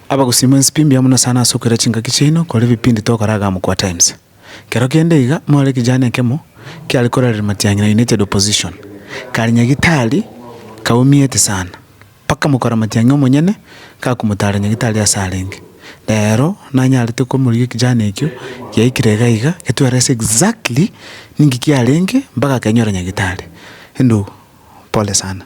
Abagusima ense pi mbuya mono sana ase okoira chingaki chiaino kore ebipindi togokora iga Amkua Times. Kero kende iga more ekejani ekemo kiare korareria matiang'ina United Opposition. Karinya gitari kaumiete sana mpaka mokora matiang'i omonyene gakomotara nyagitari ase arenge. Rero nanyarete komorigia ekejani ekio giaikire iga iga getwera ase exactly ninki kiarenge mpaka akenyora nyagitari. Endou pole sana.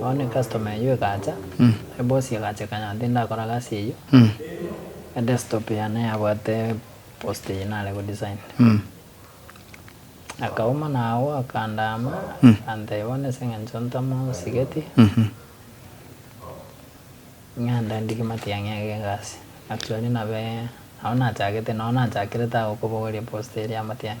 Bono ecustomer eyio egacha, eboss egacha ekanya ng'a tindakora gasi eyio, edesktop yane yabwate post eye nare godesign. Akauma nagwo akandaama, akantebia bono ase eng'encho ntamosigeti, ng'ende ndigie matiang'i age egasi. Actually nabe, nabo nachagete, noo nachakire tagokobogoria post eria ya matiang'i.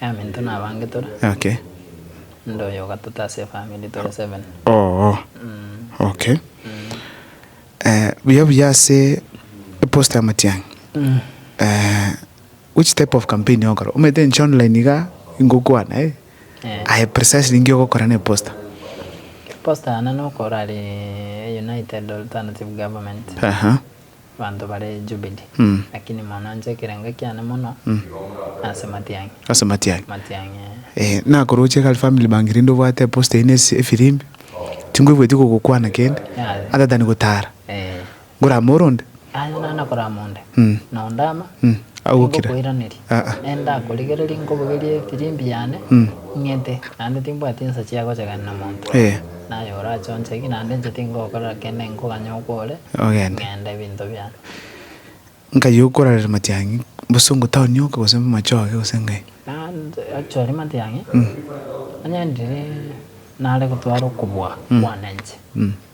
Aminto nabange tore. Okay. Inde oyo ogatato ase efamiri tore seven. Oo. Okay. Buya buya ase eposta ya Matiang'i. Which type of campaign ogokora? Omanyete inche online iga ingokwana eh. Aye precisely inki ogokora na eposta? Eposta yane nokorari United Alternative Government. Aha. Abanto bare Jubili, lakini monanche ekerengo ekiane mono ase matiang'i. Ase matiang'i. Matiang'i, ee. Ee, nakoroche Kali family bank rinde obwate eposta eyio ne efirimbi, tinkoigweti kogokwana kende, Yaya. ata tani gotara. Ee. Ngorama oronde. Yaya, naende nakorama onde. Nonde ama. Tingokoiraneria. Naende ndakorigereria nkobogerie efirimbi yane, ing'ete, naende timbwati ensa chia gochegena na monto. Naye orache onchegi, naende inche tingokorera kende nkoganye okwore, ng'ende ebinto biane. Nkai okorarera matiang'i, gose ongotaonia oka, gose amachoge, gose ngai? Naende achoria matiang'i, onye ndiri nare gotwara okobua kwane inche.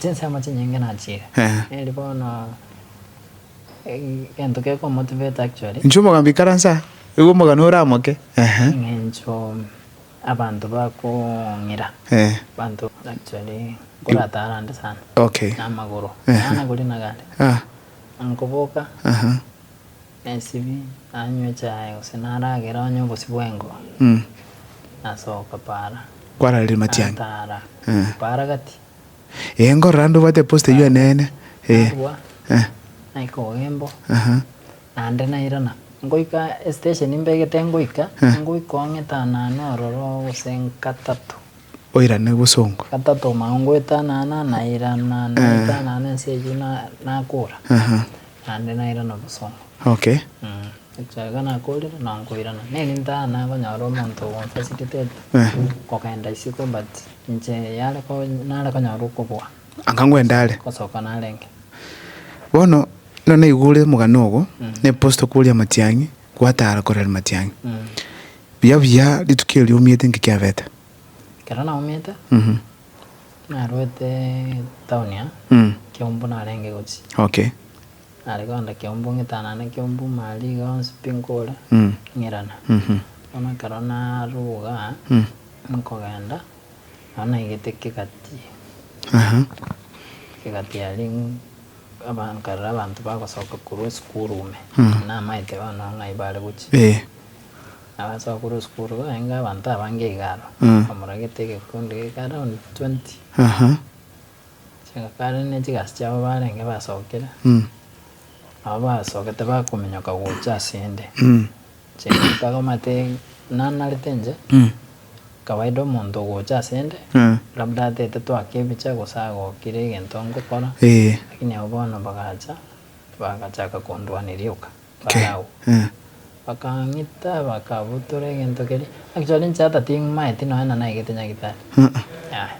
Chinsemo chinyinge nachiire. Eri bono egento geko motivate actually. Inche omogamba ikaranse aa, igo omogano oramoke. Ehe. Eng'encho abanto bakong'ira. Eeh. Abanto actually nkoratara ande sana. Okay. Namagoro. Ehe. Naana goria nagare. Aah. Nkoboka. Aha. Esibi, anywe echae gose naragere onye obosio bw'engo, nasoka para. Kwararire matiang'i. Natara para gati. Ee, nkorora ande obwate eposta eyio eneene. Ee. Narua, naika ogembo, naende nairana. Ngoika esitesheni mbegete ngoika, ngoika oo ng'etanane ororo gose gatato. Oirane bosongo. Gatato mao ngoetanana, nairana, naetanana ense eyio nakora. Naende nairana obosongo. Okay. Ekiagera nakoorire na nkoirana. Neri ntaa nakonyora omonto ogonfacilitate kogenda isiko but inche yare nare konyora okobua. Akangwa endare. Gosoka narenge. Bono nero naigure omogani ogo ne post okoria matiang'i gwatara korera matiang'i. Buya buya rituko eri omiete inki kiabete? Ekero naumete. Narwete Taunia, kiombu narenge gochia. Okay. Nare konda kiombu ng'itanane kiombu mariga onsi pi nkore, ng'irana. Bono ekero naruga nkogenda, nabo naigete kegati, kegati aria aba nkarora abanto bagosoka korwa esukuru ime, namaete bono ng'ai bare gochia. Abasokoro osikuru barenge abanto abange iga aro, bamoragete egekundi geke around twenty. Chingaka rende chigasi chiabo barenge basokire, nabo basokete bakominyoka gocha asende. Chingaka bamate nanarete inche, kawaida omonto ogocha asende, labda atete twake ebiche gose agokire egento ngokora, lakini abwo bono bagacha, bagachaka kondwania rioka. Farao, bakang'ita, bakabutora egento keria. Actually inche ata timaeti nonya na naegete nyagitari, yaya,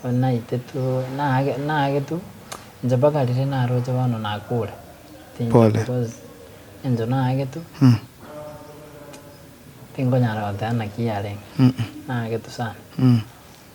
bono naite tu, naage naage tu, inche mpaka riria naroche bono nakure, tinche because engento naage tu, tinkonyara goteba naki yarenge, naage tu sana.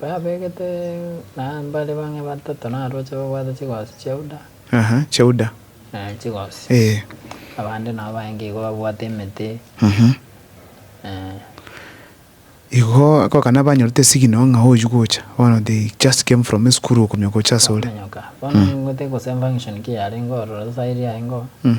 Babegete na mbare bang'e batato na aroche babwate chigosi chi'euda. Aha, chi'euda. Eh, chigosi. Eh. Abande nao baenge igo babwate emete. Mhm. Eh. Igo akogakana banyorete signal ng'a oyio gocha. Bono they just came from esukuru okumioka gocha asore. Okomenyoka. Bono ningote gose function ki yarenge ororo saa eria aye ngoo. Mm.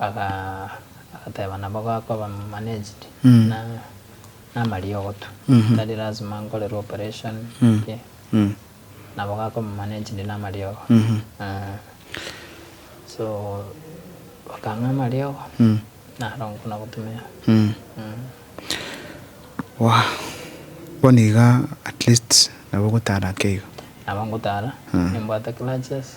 Agateba, Nabo gakoba managed na namariogo tu, tari lazima nkorerwe operation ki, nabo gakoba managed namariogo. So bakang'a amariogo naro nkona gotumia. Bono iga at least nabo ogotara ake iga? Nabo ngotara, nimbwate clutches.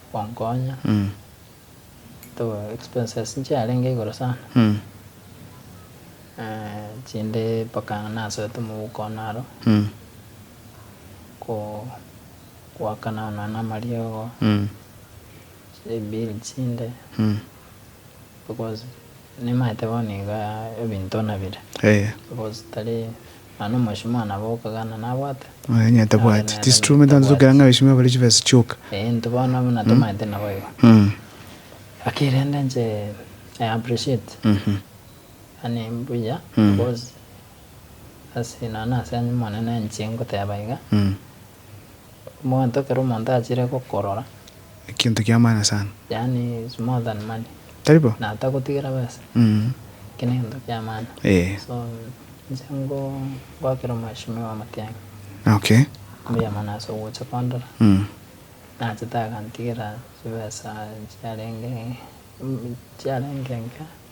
gwankonya to expenses nchiarenge igoro sana chinde mpaka nasoete mobuko one aro ko goakana onana amariogo chire ebill chinde Because nimaete bono iga ebinto nabire. Eeh. Because tari nonye na omweshimiwa nabo okagana nabwate. Aye onye atabwati. Tis true omanyete abanto tokera ng'a abeshimiwa bare chibesa chioka. Eeh intwe bono buna tomaete naboigo. Lakini rende inche I appreciate. Yaani mbuya because ase nonye ase onye Omonene inche ngoteba iga. Omonto ekero omonto achire gokorora. Ekinto ki'amaani sana. Yaani is more than money. Tari bo? Na atagotigera besa. Ekio negento ki'amaani. Ee. So, inche ngo, ngoakera omweshimiwa Matiang'i. Okay. Mbuya mono ase ogocha kondora. Nachete agantigera chibesa chiarenge, chiarenge enke.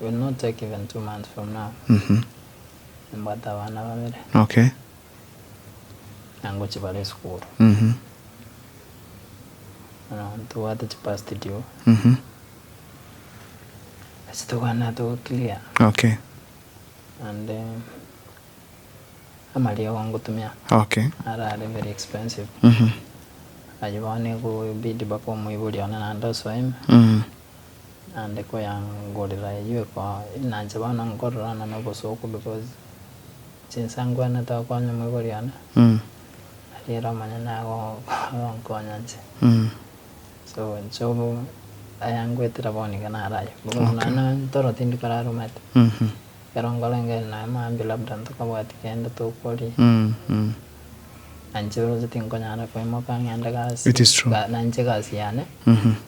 Will not take even two months from now Mhm. nimbwate abana babere Okay. na ngochia bare esukuru Mhm. bono ntobwate chipast due Mhm. ase tokwanete goclear Okay. and eh, amariogo ngotumia Okay. arare very expensive Mhm. aye bono ekobidi mpaka omoibori one naende osoe ime Mhm. Naende koyangorera eyio ekoa enanche bono nkororana nobosooku bobosio. Chinsa ngwene tokonya omoibori one, ariere omonyene agonkonya inche. So inche obo ayangoetera bono nigo nare ayio. Bono nonya na toro tindi korarumate, ekero nkorenge nonya maambia labda ntokobwati kende tokoria, na inche roche tinkonyara koimoka ng'ende gasi, na inche egasi yane.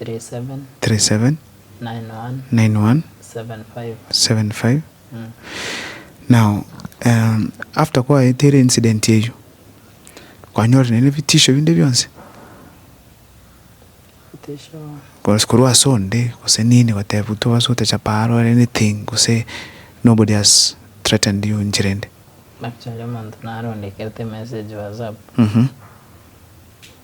37911757 now after kwaete ere incident eyio kwanyorire ne ebitisho binde bionsi? Cause korwa ase onde gose nini gotebwa toba ase otachapa aare or anything gose nobody has threatened you enchera ende?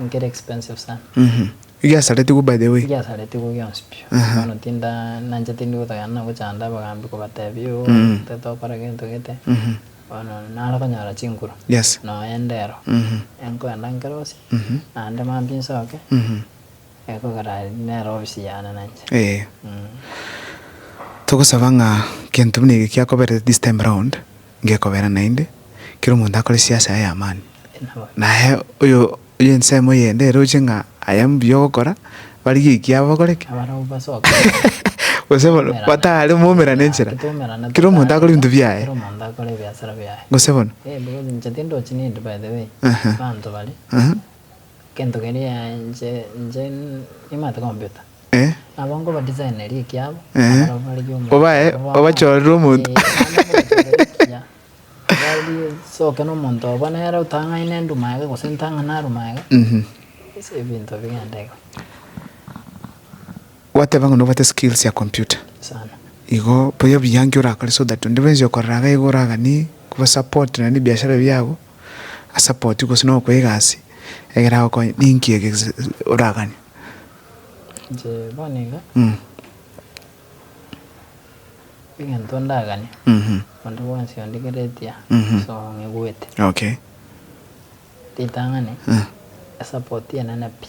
Nkere expensive sana. Mh. Igiasaretigwe by the way. Igiasaretigwe gionsi pi. Aha. Bono tinda nanchete ndi gotagena na gochanda abagambi kobatebia oo Mm. nte tokora gento gete. Mh. Bono nare konyora chinkuru. Yes. Noende ero. Mh. Enkoenda nkerose. Mh. Naende mambia nsoke. Mh. Ee. Togosaba ng'a gento buna eke kiakoberete this time round ngekobera naende kera omonto akore siasa yaye amani. Naye oyo oyo ensemo eyende eroche ng'a aye mbuya ogokora barigie ekiabo bakore ki? Gose bono batare momerane enchera kera omonto akore ebinto biaye. Gose bono. Aha. Aha. Gento keria inche inche nimanyete kombeta. Nabo nkobadisaneria ekiabo, nabarobererie omonto Obae obo bamanyete. obachorere omonto. Ee, naende nkobachorere ekiya. Barie, soke nomonto obo nere otang'aine enduma age gose ntang'ane aruma age, ase ebinto bigende iga. Gwateba ng'a nobwate skills ya computer Sana. igo boyo obiyange orakore so that onde bwensi okorora iga igo oragani koba support nonya nebiashara biago a support gose nokoe egasi egere agokonye ninki ege oragani? Inche bono iga egento ndagani onde bwensi onde kere etia ase ong'egwete ritang'ani e support enene pi.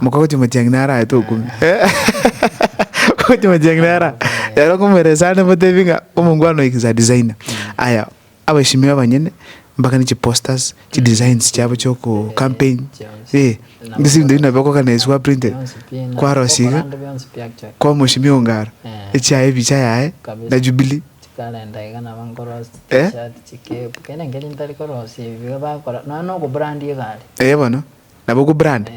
Mokagochia matiang'i naro aye tokumia. Mokagochia matiang'i naro aye. Ekero okomoeresia aria namotebi ng'a omongwana oyo inse adesigner. Aya, abashimi abanyene mbakane chiposters, chidesigns chiabo chia oko campaign, eh, gose ebinto binde nabio okoorganize gwa printed, kwarosia iga, kwamoshimia eongaro, echiaye ebicha yaye, na jubilee. Eh? Eh bono. nabo ku brand.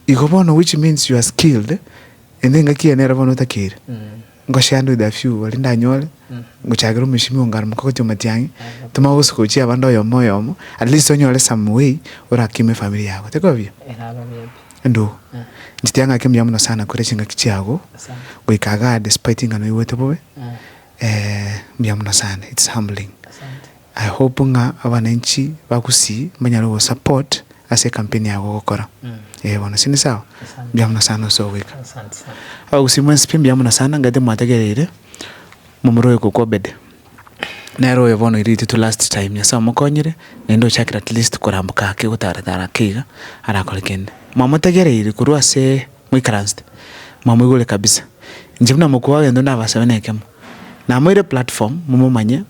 Igo bono which means you are skilled eh, ende engaki ene ero bono otakeire ngoshare ande with a few baria ndanyore ngochakere omosimi o ngaro mokogotia omatiang'i toma ogosuka ochie abande oyomo oyomo at least onyore some way orakime efamiri yago tikoba buya? Endugu nchitire ng'a ake mbuya mono sana kore chingaki chiago goika igaa despite ng'a noigwete bobe mbuya mono sana it's humbling. I hope ng'a abananchi ba Gusii mbanyare ogo support ase ekampeni yago ogokora. Ee bono ase ni sawa? Mbuya mono sana ase ogoika. Abagusii mwensi pi mbuya mono sana nga'ete mwatagereire momura oyo kokwa Obede. Nere oyo bono oiriri titwe last time Nyasae omokonyire naende ochakire at least koramboka ake gotara tara ake iga arakore kende. Mwamotegereire korwa ase moikaransete mwamoigure kabisa. Inche buna mokubao gento nabasabe nekemo namoire platform momomanye.